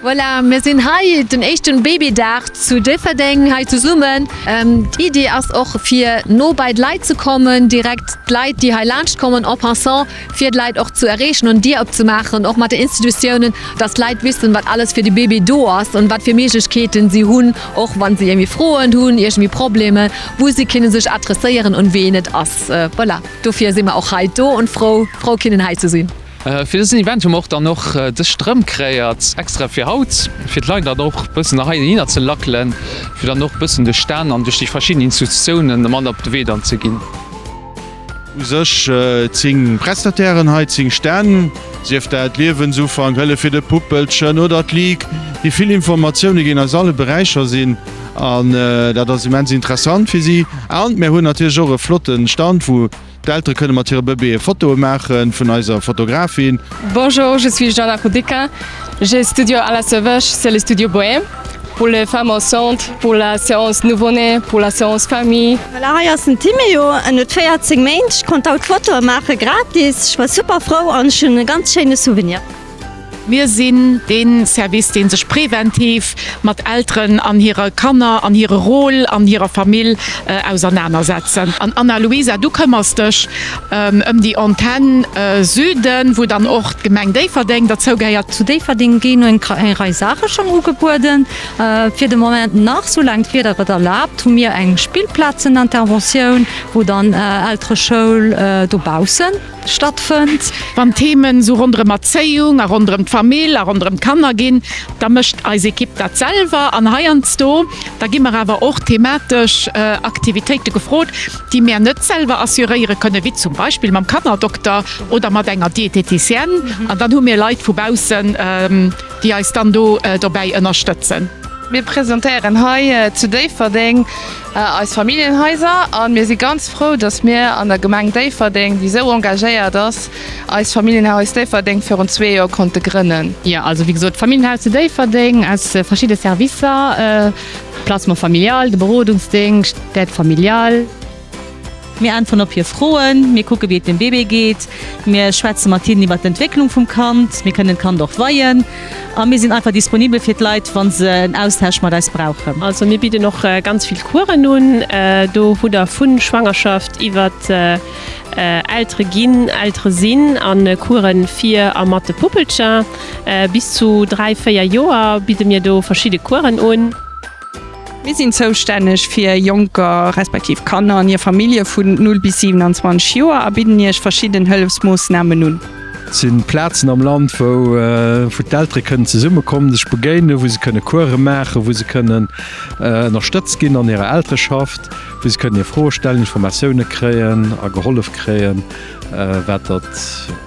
Voilà, mir sinn hei den éischten Babydag zu Déifferdeng hei zesummen. D'Iddi ass och fir no bei d'Leit ze kommen, direkt d'Leit déi hei laanscht kommen en passant fir d'Leit och ze erreechen an d'Dier opzemaachen och mat de Institutiounen, dass d'Leit wissen wat alles fir de Baby do ass an wat fir Méiglechkeeten si hunn och wann si iergendwéi Froen hunn, iergendwéi Problemer wou si kinne sech adresséieren un ween et ass. Voilà, dofir si mer och hei do und frou, frou kinnen hei ze sinn. Fir dësen Event hu mer och dann och dës Strëmp kreéiert, extra fir haut, fir d'Leit dann och bëssen nach hei hinner ze lackelen, fir dann och bëssen duerch d'Stänn an duerch déi verschidden Institutiounen mat op de Wee dann ze ginn. U sech 10 Prestatairen hei, 10 Stänn, sief dat Liewensufank, Hëllef fir de Puppelchen oder d'Ligue, déi vill Informatioune ginn eis alle Beräicher sinn. An dat ass immens interessant fir si. An mir hunn natierlech och e flotte Stand, wou d'Eltere kënne mat hire Bëbeeë Fotoe maache vun eiser Fotografin. Bonjour, je suis Jana Rudicka, j'ai studio à la Seveche, c'est le studio Bohème pour les femmes enceintes, pour la séance nouveau-né, pour la séance famille. Voilà, hei ass den Timéo, en huet 14 Méint, ech konnt haut Fotoe maache gratis, ech war super frou an ech hunn e ganz schéine Souvenir. Mir sinn dee Service, dee sech preventiv mat Elteren an hire Kanner an hire Rôle an hirer Famill ausernaner setzen. An Anna-Luisa, du këmmers dech ëm déi Antenn Süden, wou dann och d'Gemeng Déifferdeng derzou gehéiert. Zu Déifferdeng ginn eng Rei Saache schonn ugebueden. Fir de Moment nach, soulaang d'Wieder et erlaabt, hu mir eng Spillplazen-Interventioun, wou dann Eltere-Schoul dobaussen. stattfënnt. Wann Themen esou ronderëm Erzéiung a ronderëm d'Famill a ronderëm d'Kanner ginn, da mécht eis Ekipp dat selwer an heiansdo, da gi mer awer och thematesch Aktivitéite gefrot, déi mär net selwer assuréiere kënnen, wéi zum Beispill mam Kannerdokter oder mat enger Dieteticienne an dann hu mir Leit vu baussen, déi eis dann do dobäi ënnerstëtzen. Mir presentéieren hei zu Déifferdeng Eis Familljenhaiser an mir si ganz frou, dass mir an der Gemeng Déifferdeng, déi esou engagéiert ass, eist Familljenhaus Déifferdeng virun zwee Joer konnte grënnen. Jo, also wéi gesot, d'Familljenhaus zu Déifferdeng aus verschidde Servicer, Placement familial, de Berodungsdéngscht, d'Aide familiale, Mir äntweren op hir Froen, mir kucke wéi et dem Bébé geet, mir schwätze mat hinnen iwwert d'Entwécklung vum Kand, mir kënnen d'Kand och weien a mir sinn einfach disponibel fir d'Leit, wa se en Austausch mat eis brauchen. Also mir bidden och ganz vill Coursen un. Do hutt der vu Schwangerschaft iwwert Eltere ginn, Eltere sinn a Course fir a mat de Puppelcher. Bis zu dräi, véier Joer bidde mir do verschidde Coursen un. Mir sinn zoustänneg fir Jonker, respektiv Kanner an hir Famillje vun 0 bis 27 Joer a bidden Iech verschidden Hëllefsmoossnamen un. Et si Plazen am Land, wou d'Eltere kënnen zesummekommen, sech begéinen, wou se kënne Course maachen, wou se kënnen ënnerstëtzt ginn an hirer Eltereschaft, wou se kënnen hir Froe stellen, Informatioune kréien a gehollef kréien, wat dat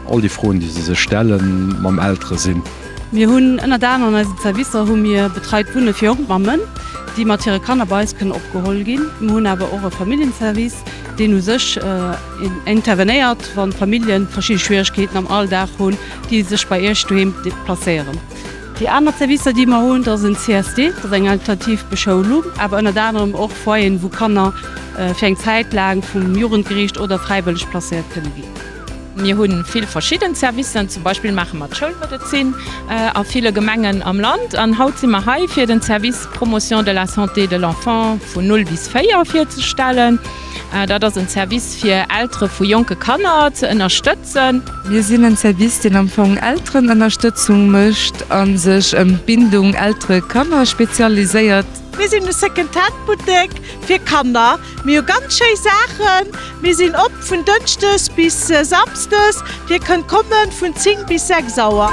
all déi Froen, déi se sech stellen, mam Eltere sinn. Mir hunn ënnert anerem an eisen Zerwisser hu mir betreit Wunne fir jonk Mammen, déi mat hire Kanner bei eis kënnen opgeholl ginn. Mir hunn awer och e Familljenservice, deen u sech intervenéiert, wann d'Familljen verschidde Schwieregkeeten am Alldag hunn, déi sech bei Iech doheem déplacéieren. Déi aner Zerwisser, déi mer hunn, dat ass en CSD, dat ass eng alternativ Beschoulung, awer ënnert anerem och Foyeren, wou Kanner fir eng Zäit laang vum Jugendgeriicht oder fräiwëlleg placéiert kënne ginn. Mir hu vill verschidden Servicen, zum Beispill maache mer d'Schoulmedezin a ville Gemengen am Land. An haut si mer hei, fir den Service Promotion de la santé de l'enfant vun null bis véier virzestellen. Dat ass en Service fir Eltere vu jonke Kanner ze ënnerstëtzen. Mir sinn en Service, deen am Fong Elterenënnerstëtzung mécht a sech ëm d'Bindung Eltere-Kanner spezialiséiert. Mir sinn e Second-Hand-Buttek fir Kanner. Mir hu ganz schéi Saachen. Mir sinn op vun Dënschdes bis Samsdes. Dir kënnt kommen vun 10 bis 6 Auer.